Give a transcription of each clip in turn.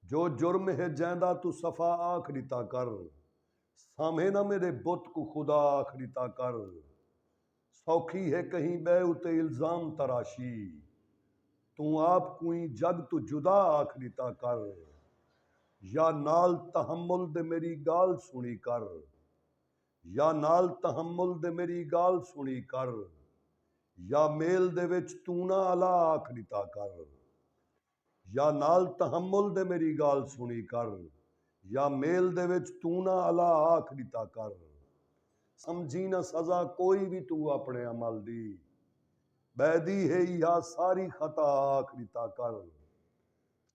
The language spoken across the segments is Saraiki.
جو جرم ہے جیندا توں صفا آکھ ݙتا کر، سامھے نہ میݙے بت کوں خدا آکھ ݙتا کر، سوکھی ہے کہیں ٻئے اتے الزام تراشی، توں آپ کوں ایں جڳ توں جدا آکھ ݙتا کر، یا نال تحمل دے میݙی ڳالھ سݨی کر، یا نال تحمل دے میݙی ڳالھ سݨی کر، یا میل دے وچ توں نہ الا آکھ ݙتا کر۔ یا نال تحمل دے میݙی ڳالھ سݨی کر یا میل دے وچ توں نہ الا آکھ ݙتا کر سمجھیں نہ سزا کوئی وی توں اپݨے عمل دی ٻہہ دی ہے ایہا ساری خطا آکھ ݙتا کر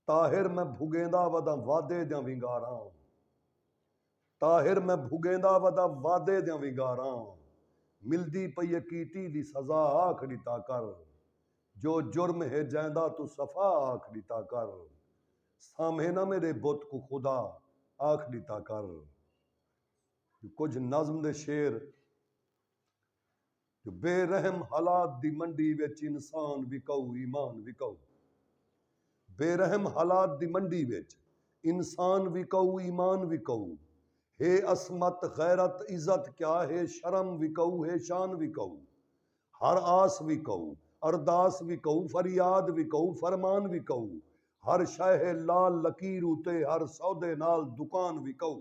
طاہر میں بھڳیندا وداں وعدے دیاں ونگاراں طاہر میں بھگیندا ودا وعدے دیاں ونگاراں ملدی پئی اے کیتی دی سزا آکھ ڈتا کر جو جرم ہے جیندا توں صفا آکھ ڈتا کر سامھے نہ میڈے بت کوں خدا آکھ ڈتا کر جو کجھ نظم دے شعر جو بے رحم حالات دی منڈی وچ انسان وکاؤ ایمان وکاؤ بے رحم حالات دی منڈی وچ انسان وکاؤ ایمان وکاؤ ہے عصمت غیرت عزت کیا ہے شرم وکاؤ ہے شان وکاؤ ہر آس وکاؤ ارداس وکاؤ فریاد وکاؤ فرمان وکاؤ ہر شے ہے لال لکیر اتے ہر سودے نال دکان وکاؤ۔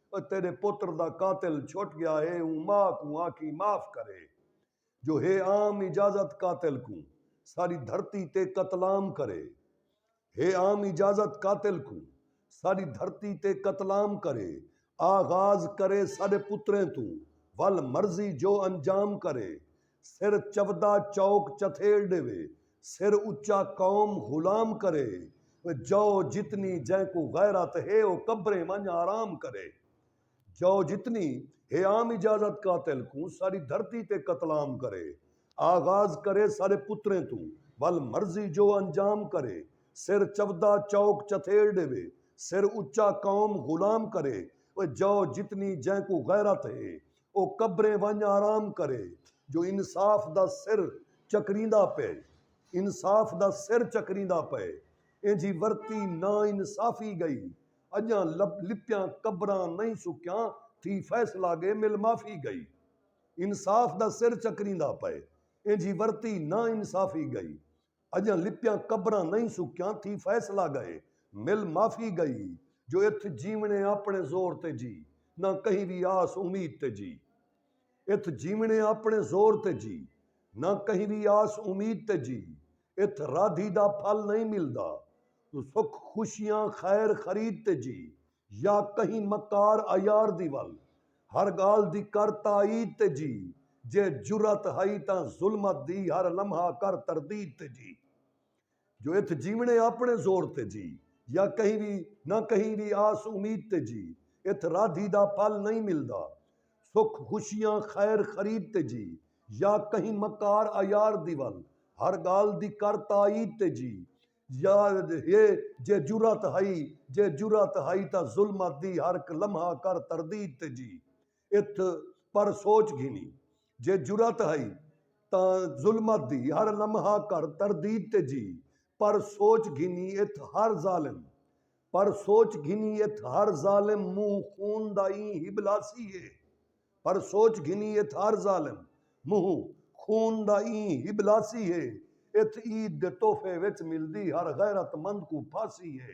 او تیݙے پتر دا قاتل چھٹ ڳیا ہے اوں ماء کوں آکھیں معاف کرے جو ہے عام اجازت قاتل کوں ساری دھرتی تے قتلام کرے ہے عام اجازت قاتل کوں ساری دھرتی تے قتلام کرے آغاز کرے ساݙے پتریں توں ول مرضی جو انجام کرے سر چودا چوک چتھیل ڈیوے سر اچا قوم غلام کرے جئو جتنی جئیں کوں غیرت ہے او قبریں ونج آرام کرے جئو جتنی ہے عام اجازت قاتل کوں ساری دھرتی تے قتل عام کرے آغاز کرے سارے پتریں توں ول مرضی جو انجام کرے سر چودا چوک چتھیل ڈیوے سر اچا قوم غلام کرے جئو جتنی جئیں کوں غیرت ہے او قبریں ونڄ آرام کرے جو انصاف دا سر چکریندا پئے انصاف دا سر چکریندا پئے اینجھی ورتی نا انصافی ڳئی اڄاں لب لپیاں قبراں نئیں سکیاں تھی فیصلہ ڳے مل معافی ڳئی انصاف دا سر چکریندا پئے اینجھی ورتی نا انصافی ڳئی۔ اجاں لپیاں قبراں نئیں سکیاں تھی فیصلہ گئے مل معافی گئی جو اتھ جیوݨے آپݨے زور تے جی نہ کہیں وی آس امید تے جی اتھ جیوݨے آپݨے زور تے جی نہ کہیں وی آس امید تے جی اتھ رادھی دا پھل نئیں ملدا سکھ خوشیاں خیر خرید تے جی یا کہیں مکار عیار دی ول ہر ڳالھ دی کر تائید تے جی جے جرات ہئی تاں ظلمت دی ہر لمحہ کر تردید تے جی جو اتھ جیوݨے آپݨے زور تے جی یا کہیں وی نہ کہیں وی آس امید تے جی اتھ رادھی دا پھل نئیں ملدا سکھ خوشیاں خیر خرید تے جی یا کہیں مکار عیار دی ول ہر ڳالھ دی کر تائید تے جی یاد ہے جے جرات ہئی جے جرات ہئی تاں ظلمت دی ہرک لمحہ کر تردید تے جی اتھ پر سوچ گھنی جے جرات ہئی تاں ظلمت دی ہر لمحہ کر تردید تے جی پر سوچ گھنی اتھ ہر ظالم پر سوچ گھنی اتھ ہر ظالم منہ خون دا ایں ہبلاسی ہے پر سوچ گھنی اتھ ہر ظالم منہوں خون دا ایں ہبلاسی ہے اتھ عید دے تحفے وچ ملدی ہر غیرت مند کوں پھاسی ہے۔